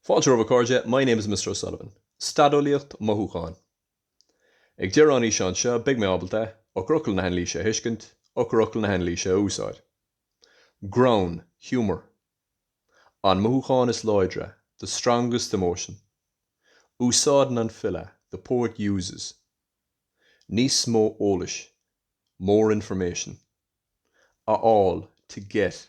Fáilte romhaibh a chairde, my name is Mr O'Sullivan. Staid eolaíocht mothúcháin. Ag deireadh an fhíseáin seo beidh mé ábalta, eochairfhocail na hanailíse a thuiscint, eochairfhocail na hanailíse a úsáid. Greann, humour. An mothúchán is láidre, the strongest emotion. Úsáideann an file, the poet uses. Níos mó eolais, more information. A fháil, to get.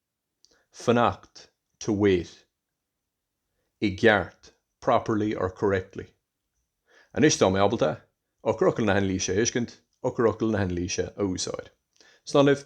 fanacht, to wait, i gceart, properly or correctly. Anois tá mé ábalta eochairfhocail na hanailíse a thuiscint, eochairfhocail na hanailíse a úsáid. Slán libh.